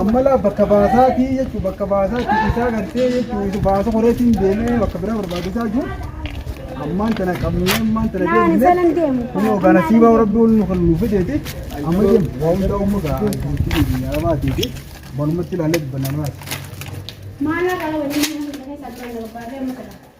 Ammalaa bakka baasaatii jechuun bakka baasaatii isaa gartee jechuun isa baasa koreetiin deemee bakka biraa barbaachisaa jiru. Ammaan tana qabnee ammaan tana deemnee kun yookaan asii baa'u rabbi ol nu kan nu fideeti amma deemu waa hundaa uumma gaa addunyaa biyya arabaatii fi manumatti ilaalee dubbanna muraasa.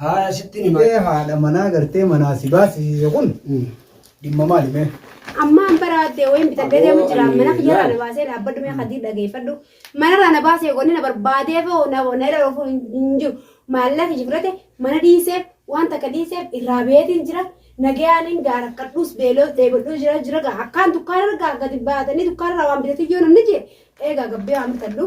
Haaya sittin hima. Ee haadha manaa gartee manaa si baasisiise kun dhimma maali mee? Amma an bara addee wayiin bitadhee deemu jira. Mana kiyyaraa na baasee dhaabbadhu mee kadii dhageeffadhu. Manarraa na baasee wanni na barbaadee foo na na irra dhufuu hin jiru. Maallaqa jibirate mana dhiiseef waan takka dhiiseef irraa beetiin jira. Nagayaan hin gaara kadhuus beeloos dheebadhuu jira jira gaa akkaan dukkaana argaa gadi baatanii dukkaanarraa waan bitatee yoo namni jee eegaa gabbee waan bitadhu.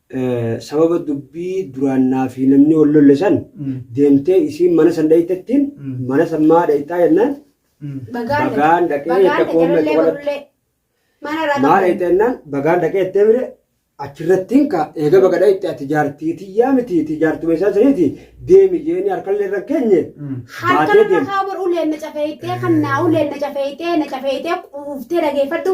sababa dubbii duraan naafi namni wal lolle san deemtee isiin mana san dhayxettiin mana san maa dhayxaa jennaan bagaan dhaqee jette qoomee qofaratti maa dhayxa jennaan bagaan dhaqee jettee mire achirrattiin ka eega baga dhayxte ati jaartii tiyyaa miti iti jaartuma isaa saniiti deemi jeeni harkallee irra keenye baatee deemte. Harka uleen na cafeeytee kan naa uleen na cafeeytee na cafeeytee quuftee dhageeffadhu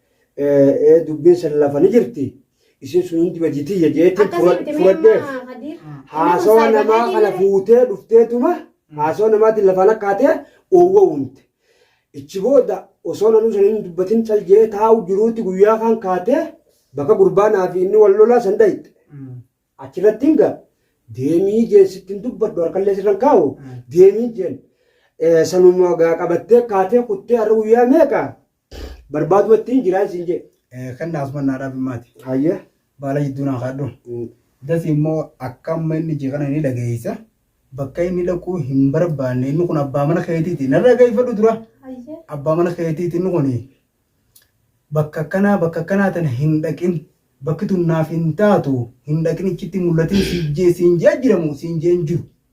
Ee dubbiin san lafa ni jirti. Isin sun hundi badii tiyya jeetiin Akkasii fura- miti mee furadheef. amma Kadiir. Haasawa Nama namaa saayibanii kana jiru. fuutee dhufteetuma haasawa namaatiin lafaan akka hatee oowwa uumte. Ichi booda osoo nanuu sana hin dubbatin cal jee taa'u jiruutti guyyaa kaan kaatee bakka gurbaanaa fi inni wal lolaa san dhayxe. Achirratti hin ga'a. Deemii jeen sitti hin dubbadhu harkallee sirra hin kaa'u. Deemii jeen. Eh, Sanuma gaa qabattee kaatee kuttee har'a guyyaa meeqa? Barbaaduu ittiin jiraan siin jee. Kennaa Usman naa dhaabi maati. Hayyee. Baala jidduu naa kaadhu. Dasi immoo akka amma inni jee kana ni dhageessa. Bakka inni dhaquu hin barbaanne inni kun abbaa mana keetiiti. Na dhageeffadhu dura. Abbaa mana keetiiti inni kun bakka akkanaa bakka akkanaa tana hin dhaqin. Bakki tun naaf hin taatu hin dhaqin ichitti mul'atin siin jee siin jee jiramu siin jee hin jiru.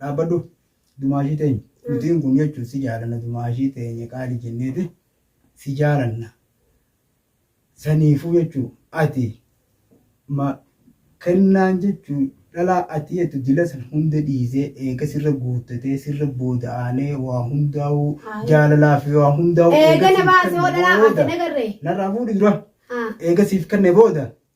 Dhaabbadhu dumaashii teenya. Nutiin kun jechuun si jaalanna dumaashii teenya qaali jenneeti si jaalanna. Saniifuu jechuu ati ma kennaan jechuu dhalaa ati jettu dila san hunda dhiisee eega sirra guuttatee sirra booda aanee waa hundaa'uu Haa. jaalalaa fi waa hundaa'uu Eega na siif baase hoo kenne dhalaa ati booda nagarree. narraa fuudhi dura Haa. eega siif kenne booda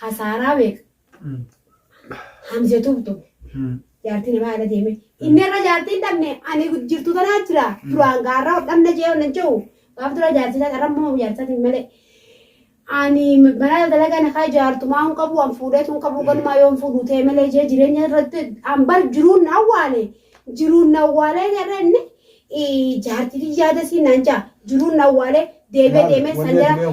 Khasaaraa meeqa? Hamza tube tube. Jaartii namaa ala deeme. Inni irra jaartii hin dhabne ani jirtu tanaa jira. Duraan gaarra ol dhabna jee ol hin jehu. Gaaf dura jaartii isaa carra immoo jaartii isaatiin malee. Ani mana dalagaa na kaa jaartumaa hin qabu an fuudheetu hin qabu ganumaa yoo hin fuudhu ta'e malee jee jireenya irratti an bar jiruun na awwaale. Jiruun na awwaalee jarra inni jaartii yaada siin naan jaa. Jiruun na awwaalee deemee deemee san jala.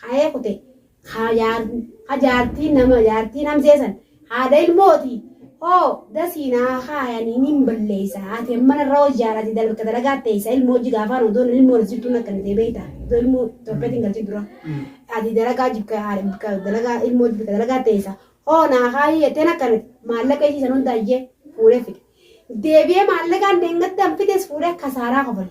ka'ee kute, ka jaartii nama jaartii namsee san, haadha ilmooti, hoo dasii naa kaayanii nin balleessa, ati ammana irra hoo jaarati dalagka dalagaa teessa, ilmoo hojji gaafaan odoo nan ilmoo nasiftuu na kennitee beeyta, odoo ilmoo torbeetti hin galchin dura, ati dalagaa jibka haadha dalagaa ilmoo jibka dalagaa teessa, hoo naa kaayii jettee na kennite, maallaqa isii san hunda iyyee fuudhee fide. Deebi'ee maallaqaan deengadda an fides fuudhee kasaaraa kofale.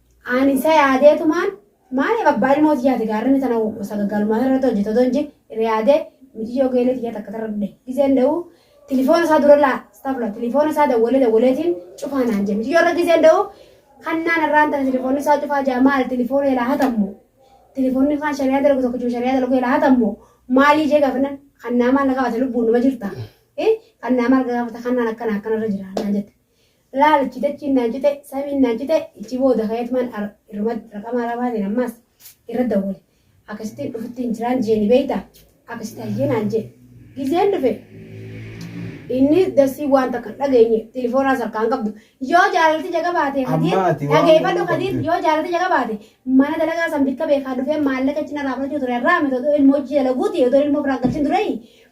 Ani isa yaadeetumaan maaliif abbaa ilmoo tiyyaati gaarrini tana sagaggalumaan irratti hojjete otoo hin jin irra yaadee miciyyoo geelee tiyyaa takka tarra dhude gizeen da'u tilifoona isaa durallaa istaafula tilifoona isaa dawwalee dawwaleetiin cufaa naan jee miciyyoo irra gizeen da'u kannaan irraan tana tilifoonni isaa cufaa jaa maal tilifoona ilaa hatammu tilifoonni kaan shariyaa dalagu tokko jiru shariyaa dalagu ilaa hatammu maalii jee gaafannan kannaa maal na gaafate lubbuun numa jirta kannaa maal gaafata kannaan akkana akkanarra jira naan jette Laal ichi dachiin naa cite samiin naa cite ichi booda kayatman ar irmat raqama arabaatiin ammaas irra dawwale akkasittiin dhufutti hin jiraan jee ni beeyta akkasitti hayyee naan jee gizeen dhufe inni dassii waan takka hin dhageenye tilifoonaas harkaa hin qabdu yoo jaalalti jaga baate kadiir Amma ati waan dhageeffadhu godhuu kadiir qabde. yoo jaalalti jaga baate mana dalagaa san bikka beekaa dhufee maallaqa ichi narraa fudhachuu ture irraa miti odoo ilmoo hojii dalaguuti odoo ilmoo biraa galchin dureeyi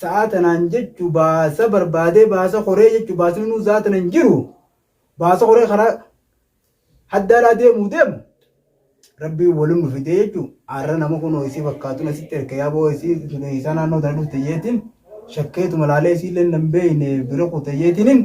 Sa'aa tanaan jechu baasa barbaadee baasa koree jechu baasni nuu zaa tana hin jiru. Baasa koree karaa haddaaraa deemuu deemu. Rabbiin waliin nu fidee jechu arra nama kunoo isii fakkaatuun asitti erga yaaboo isii tunii isaa naannoo tana dhufte jeetiin shakkeetuma laalee isiillee nan beeyne bira kute jeetiniin.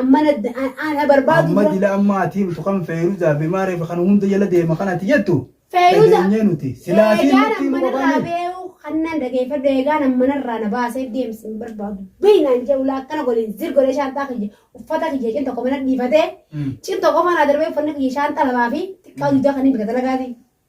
Amman adda ana barbaadu Amma dura. dila amma ati himtu kan Feeruzaa fi Maaree fi kan hunda jala deema kan ati jettu Feeruza. dhageenyee nuti. Silaa ati Eegaan nutti himu amman irraa qofaani. beeku kan nan dhageeffadhu eegaan amman irraa na baasee deemsi hin barbaadu. Beeyi naan jedhu laa akkana godhin zir godhee shaanxaa kiyya uffata kiyya cin tokko mana dhiifatee Mm. cin tokko ofaa naa darbee uffanni kiyya shaanxaa lamaa fi xiqqaa dugdaa kan hin bita dalagaatiin.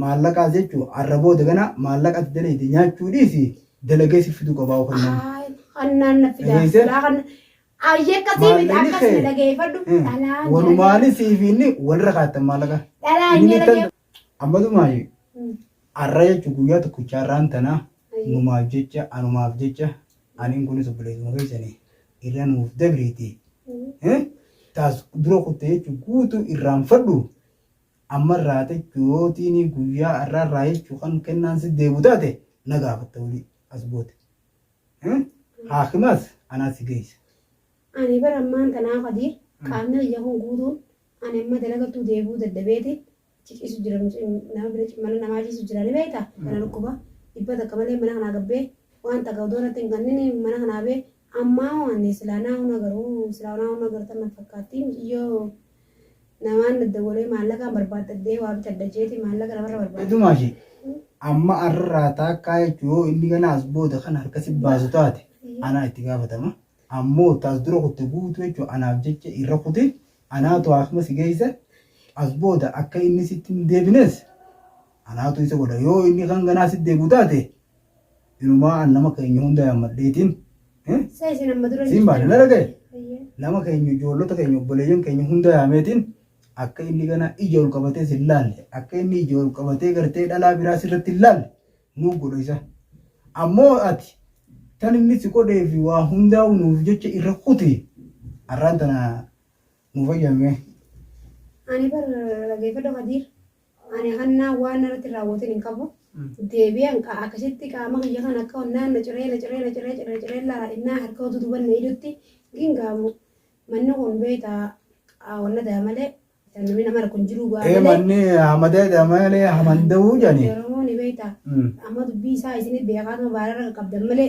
Maallaqaa jechuun har'a booda gana maallaqa ati dalayde nyaachuu dhiisi dalagee si fiduu qabaa yookaan nama. Haay, hannaan na fidaa Dhageesse? silaa kan ayyee akkasii miti Maallaqni akkas kee. na dhageeffadhu Eh, dhalaan Walumaanii siif inni walirra kaattan maallaqa. Dhalaan Inni jala tan- Amma dumaayyu Mm. har'a jechuun guyyaa tokkicha har'aan tanaa Ayyee. numaaf jecha anumaaf jecha aniin kunis obboleessuma keessanii irra nuuf dabriiti. Eh? Taas dura kutte jechuun guutuu irraanfadhu Amma irraa techu yoo tiinii guyyaa arraa irraa jechu kan kennaan si deebu taate na gaafatta wali as goote. Hmm? Haakimaas anaa si geessa. Ani bara ammaan tanaa Kadiir qaamni kiyya kun guutuun ani amma dalagattuu deebi'uu dadhabeeti achi ciisu jira nama bira mana namaa ciisu jira ni beekta kana dhukkuba dhibba takka malee mana kanaa gabbee waan takka odoo natti hin kannini mana kanaa bee ammaa waan silaa naa huna garuu silaa naa huna gartan na fakkaatti miciyyoo Namaan daddawalee maallaqaan barbaaddadhee waa bitadha jeeti maallaqa namarra barbaaddi. Idumaa ishee amma arraa taakkaa jechuun yoo inni gana as booda kan harka si baasu taate anaa itti gaafatama. Ammoo taas dura kutte guutuu jechuun anaaf jecha irra kuti anaatu haakima si geessa as booda akka inni sitti hin deebines anaatu isa godha yoo inni kan ganaa sitti deebi'u taate Inumaa an nama keenya hunda yaammadheetiin eh, Sa isin amma dura siin baane na dhagaye. Eeyyee. Nama keenya ijoollota keenya obboleeyyan keenya hunda yaameetiin akka inni ganaa ija ol qabatee sin laalle akka inni ija ol qabatee gartee dhalaa biraa sirratti hin laalle nuu godha isa. Ammoo ati tan inni si godhee fi waa hundaa'u nuuf jecha irra kuti har'aan tana nuuf ayyaamee. Ani bar dhageeffadhu Kadiir. Ani hannaa waan narratti raawwatin hin qabu. Deebi'an qa akkasitti qaama kiyya kana akka onnaan na ciree na ciree na ciree ciree ciree laala innaa harka utuu duban na idutti gin gaamu manni kun beeyta wanna daa malee namni nama rakko hin jiruu bu'aa Ee malee. manni hamadee damalee hamanda'uu jani. Oromoon beeyta Mm. amma dubbii isaa isinit beekaatuma baararra qabdan malee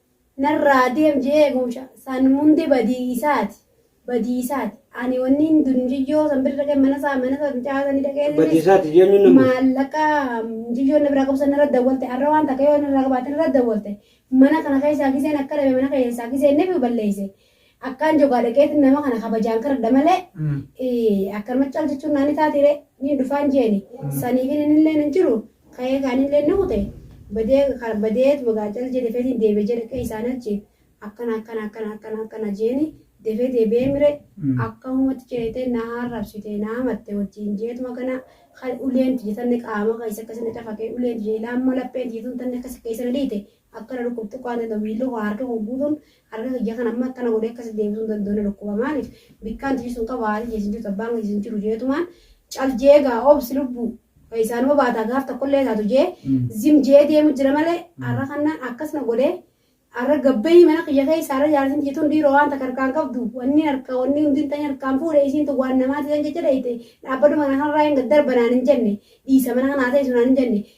Narraa deem je'ee eegumsha san munde badii isaati, badii isaati. Ani wanniin dun mucayyoo san bira dhaqee mana isaa, mana isaa mucaa sanii dhaqee inni Badii isaati jeennuun nama. maallaqa mucayyoon na biraa qabu san narra dawwalte arra waan takka yoo narraa qabaate narra dawwalte mana kana keessaa giseen akka dhabe mana keessaa giseen nefi balleeyse Akkaan jogaa dhaqeetin nama kana kabajaan karadha malee akkanuma cal jechuun naani taatire niin dhufaan jeeni saniifin inilleen hin jiru ka'ee kaanilleen ni kute badee ka- badeetuma gaa cal jee defeetiin deebe jee dhaqee isaan achi akkana akkana akkana akkana akkana jeeni defee deebi'ee mire akkamumatti jeetee na arrabsite na hamatte wajjin jeetuma kana kan uleen tiyya tanne qaama keessa akkasi na cafaqee uleen tiyya ilaa amma lapheen tiyya tun tanne akkasi keessa na dhiite akkana dhukkubxuqaan danda'u miilli koo harka koo guutuun Arga kiyya kan amma akkana godhee akkasitti deebisuu hin danda'u na dhukkuba maaliif bikkaan tijisu hin qabu haati jeesin jirtu abbaan keesin jiru jeetumaan cal jee egaa obsi lubbu isaanuma baataa gaaf tokkollee taatu jee zim jee deemu jira malee arra kannaan akkas na godhee arra gabbayii mana kiyya keessa arra jaarsin tijituun dhiiroo waan takka harkaan qabdu wanni harka wanni hundi hin ta'in harkaan fuudhe isiin tun waan namaati tan jecha dheeyte dhaabbadhu mana kanarraa hin darbanaan hin jenne dhiisa mana kanaa ta'e sunaan hin jenne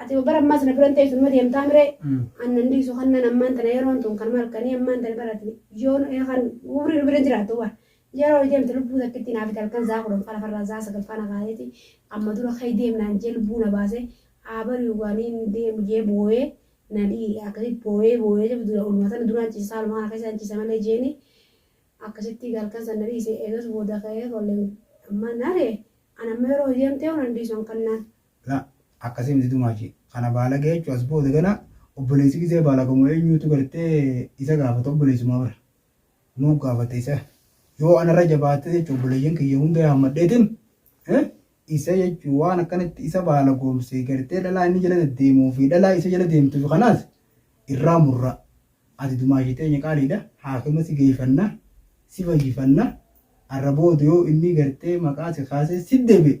Ati ma bara ammaas na biran teessu numa deemtaa miree? An nan dhiisu kannan ammaan tana yeroon tun kanuma halkanii ammaan tana bara ati yoon kan umrii nu biran jiraattu bar yeroo deemte lubbuu takkittii naafite halkan zaa kudhan faa lafarraa zaa sagal faa na kaaseeti amma dura ka'ii deem naan jee lubbuu na baase haa bari'u waanii ni deemu jee booyee na dhi'i akkasitti booyee booyee jebu dura oluma tana duraan ciise saaluma kana keessaan ciise malee jeeni akkasitti halkan san na dhiise eegas booda ka'ee olleen ammaan naaree an amma yeroo deemtee waan dhiisu an kannaan la akkasi miti dumaashi kana baalagee jechu as booda gana obboleessi gizee baalagamu eenyuutu gartee isa gaafata obboleessumaa bara nuu gaafata isa yoo anarra jabaate jechu obboleeyyan kiyya hunda hammadheetin isa jechu waan akkanatti isa baalagoomse gartee dhalaa inni jala deddeemuu fi dhalaa isa jala deemtuuf kanaas irraa murra ati dumaashi teenya qaaliidha haakima si geeyfanna si fayyifanna arra booda yoo inni gartee maqaa si kaasee si deebi'e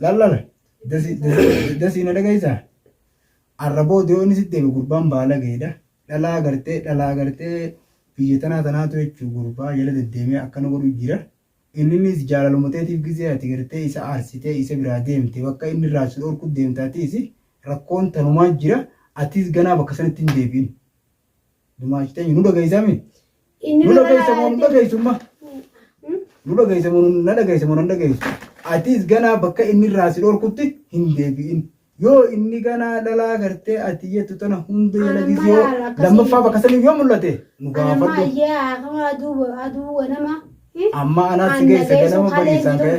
Lallala dasii na dhagaysaa arraboo dee'oonni sitti deeme gurbaan baalageedha dhalaa gartee dhalaa gartee biyya tanaa tanaatu jechuu gurbaa jala deddeemee akkana godhu jira inninis jaalaluma teetiif gizee ati gartee isa aarsitee isa biraa deemte bakka inni irraa si dhorku deemta atiis rakkoon tanumaa jira atiis ganaa bakka sanatti hin deebiin Dumaash teenya nu dhageessaa mi? Inni Nu nurra dhageessa moo nu laalaa dhageessu ma? Hmm? Nu dhageessa moo nu- na dhageessa moo nan dhageessu? Atis ganaa bakka inni irraa si dhorkutti hin deebi'in. Yoo inni ganaa dhalaa gartee ati jettu tana hunda Anamma yalagis yoo laala akkasii. lammaffaa bakka saniif yoo mul'ate nu Anamma gaafadhu. ayyee akkuma aduu aduu ganama. Hmm? Amma anaas si geessa ganama bariisaan ka'e.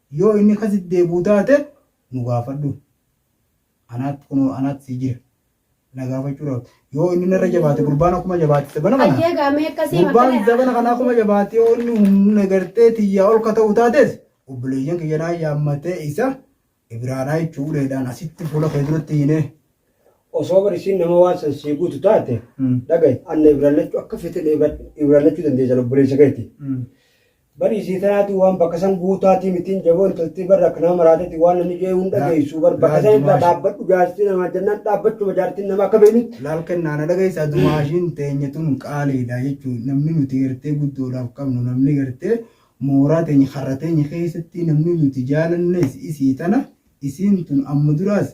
Yoo inni ka deddeebi'u taate nu gaafadhu. Anaatti kunoo anaatti sii jira. Na gaafachuu dhaabda. Yoo inni narra jabaate gurbaan akkuma jabaate sabana kana. Hayyee gaamee akkasii Gurbaan makkala zabana kana akkuma jabaate yoo inni humna gartee tiyyaa ol ka ta'u taates obboleeyyan kiyya naa yaammatee isa ibiraadhaa jechuu uleedhaan asitti fuula kee duratti hiinee. Osoo bar isiin nama waan san sii guutu taate dhagaye anna ibrallachuu akka fete ibrallachuu dandeessan obboleessa keeti. Bari isii tanaatu waan bakka san guutaatii mitiin jaboo intaltii barra akka nama maraatetti waan namni jee hunda Laal- geessu bar bakka laal san irraa dumaasha. dhaabbadhu jaartii namaa jennaan dhaabbachuma jaartiin namaa akka beeknutti laal kennaa na dhageessaa dumaashiin teenya tun qaaliidha jechuun namni nuti gartee guddoodhaaf qabnu namni gartee mooraa teenya karra teenya keessatti namni nuti jaalannes isii tana isiin tun amma duraas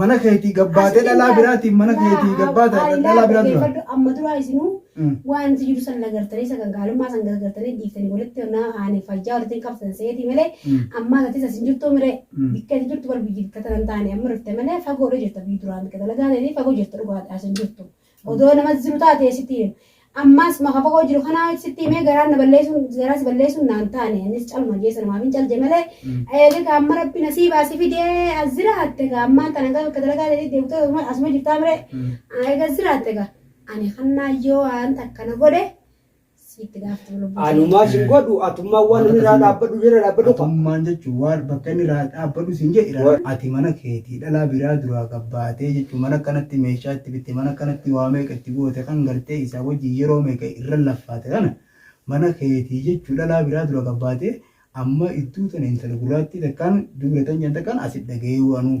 Mana keetii gabbaatee dhalaa biraatiin mana keetii gabbaata dhalaa biraa dura. Amma duraa isinuu waan itti jiru san nagartanii isa gaggaalummaa san gargartanii dhiiftanii walitti onnaa haanii fayyaa walitti qabsisan seetii malee ammaa tatis asin jirtuu mire bikka itti jirtu bar biyyi bikka tanan taane amma dhufte malee fagoodha jirta biyyi duraan bikka dalagaa ta'eetii fagoo jirta dhugaadha asin jirtu. Odoo namas jiru taatee sitti hima. Ammaas maqa fagoo jiru kanaa sitti himee garaan na balleessuun garaa si balleessuun naan taane innis caluma jeessa namaaf hin calje malee eega ka amma rabbi nasiibaa si fidee as jiraatte ka ammaan tana gaa bakka dalagaa ta'e deebitee asuma- asuma jirtaa miree eega as jiraatte gaa ani kannaa yoo waan takka na godhe Siitti gaaftu lubbuu Anumaa ta'e. sin godhu atummaan waan Waan inni irraa akkasii dhaabbadhu irra dhaabbadhu qaba. Atummaan jechuun waan bakka inni irraa dhaabbadhu sin jedhe irraa Wa- ati mana keetii dhalaa biraa duraa gabbaatee jechuun mana kanatti meeshaa itti bitte mana kanatti waa meeqa itti goote kan gartee isaa wajjin yeroo meeqa irra laffaate kana mana keetii jechuun dhalaa biraa dura gabbaatee amma iddoo tana intala gurraattii takkaan dubra tan jedhan takkaan asi dhaga'ee waanuu.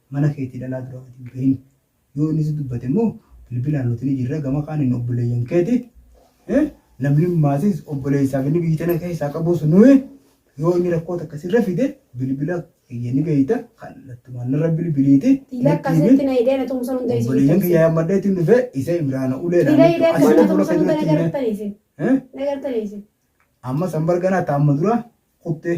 Mana keetii dhalaa duraa gad hin bahin. Yoo inni si dubbate immoo bilbilaan nuti ni jirra gama kaaniin obboleeyyan keeti. Namni maatiis obboleessaaf inni biyyi tana keessaa qabus nuyi yoo inni rakkoo takka sirra fide bilbila kiyya ni beeyta kallattumaan narra bilbiliiti. Ila akkasitti na hidhee na tumsan hunda isin Obboleeyyan kiyya tumsan. yammadhee ittiin dhufee isa imraana ulee Ila hidhee laamtu akkasitti na asitti fuula tumsan hunda na keetirratti garttan isin. Na garttan isin. Amma san barganaa taamma dura kuttee.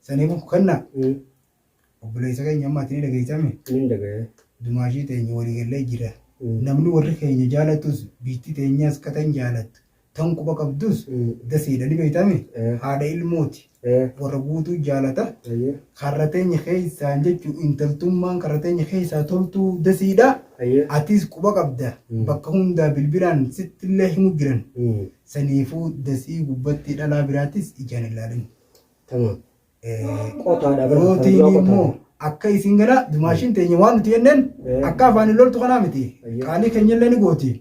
Sanii buku kanna obboleessa keenya amma ati ni dhageessame Nin dhaga'e. dumaashii teenya walii gallee jira. Namni warri keenya jaalatus biitti teenyaas ka tan jaalattu tan quba qabdus dasiidha ni beeytame Eh. haadha ilmooti Eh. warra guutuu jaalata Ayyee. karra teenya keessaan jechuun intaltummaan karra teenya keessaa toltuu dasiidha Ayyee. atis quba qabda Mm. bakka hundaa bilbilaan sittillee himu jiran Mm. saniifuu dasii gubbatti dhalaa biraatis ijaan ilaalin. Tamam. Qotaadha bara. Yootiin immoo akka isiin gala dumaashiin teenya waan nuti jenneen akka afaan hin loltu kanaa miti. Qaalii keenya illee ni gooti.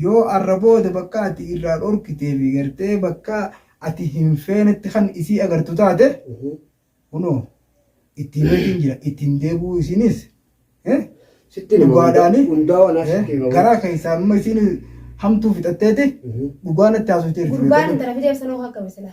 Yoo arra booda bakka ati irraa dhorkitee fi gartee bakka ati hin feenetti kan isii agartu taate kunoo ittiin beekin jira ittiin deebuu isiinis dhugaadhaani garaa keessaa amma isiin hamtuu fixatteeti dhugaa natti haasofteerti. Gurbaan intala fideef sanoo akkami silaa?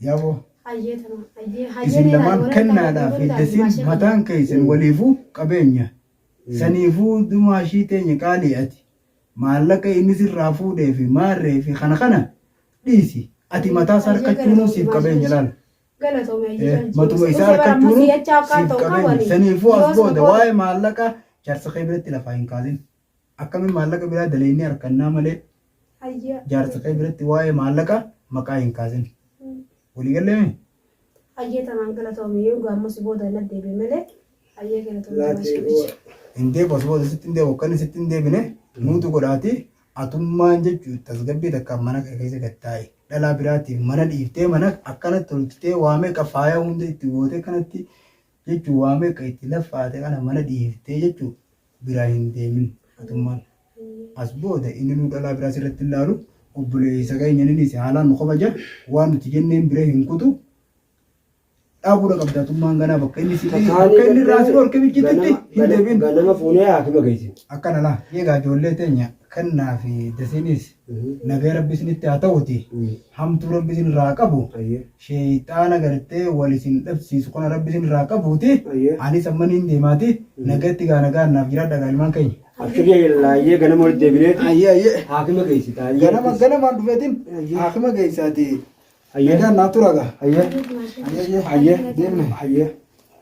Yaaboo. Hayyee tana. Hayyee hayyee Isin neeraa lamaan warra kennaadhaa fi taa'anii dasiin maashee mataan keessan waliifuu qabeenya. Saniifuu dumaashii teenya qaalii ati maallaqa inni sirraa fuudhee fi maarree fi kana kana dhiisi. Ati mataa isaa harkachuunuu siif qabeenya laala. Galatoomi hayyee Eh, jaajjii. Matuma isaa Usee bara ammas harkachuunuu si'achaa akka siif ta'u qabeenya. qabu Saniifuu as yoos booda maqoota. waa'ee maallaqa jaarsa kee biratti lafaa hin kaasin. Akkami maallaqa biraa daleynee arkannaa malee Hayyee. jaarsa kee biratti waa'ee maallaqa maqaa hin kaasin. Walii gallee mee? Hayyee tamaan galatoomi yoo dhugaa ammoo si booda hin addeebi'e malee hayyee galatoomi tamaan si wajji. Hin deebu as booda sitti hin deebu akka inni sitti hin deebine nuutu godhaati atummaan jechuun tasgabbii takkaan mana kee keessa gad taa'i. Dhalaa biraatiif mana dhiiftee mana akkanatti tolchitee waa meeqa faaya hunda itti gootee kanatti jechuun waa meeqa itti laffaate kana mana dhiiftee jechuun biraa hin deemin atummaan as booda inni nuu dhalaa biraa sirratti hin laalu obboleessa keenya ninis haalaan nu kabaja waan nuti jenneen bira hin kutu dhaabuudha qabda atummaan ganaa bakka inni si bakka inni irraa si dhorke mijjititti hin deemin Ganama fuunee haakima geessin. akkana laa eegaa ijoollee teenya kennaa fi dasiinis Nagaya rabbi isinitti haa ta'uti hamtuu rabbi isin irraa haa qabu sheeyxaana gartee wal isin dhabsiisu kana rabbi isin irraa qabuuti anis amma niin deemaati nagatti gaa nagaan naaf jiraadha gaa ilmaan keenya. Abshirri laayyee ganama walitti deebineeti Ayyee ayyee haakima geessita ayyee. ganama ganamaan dhufeetiin haakima geessaati nagaan naaf tura gaa. Ayyee Ayyee ayyee deemne. ayyee.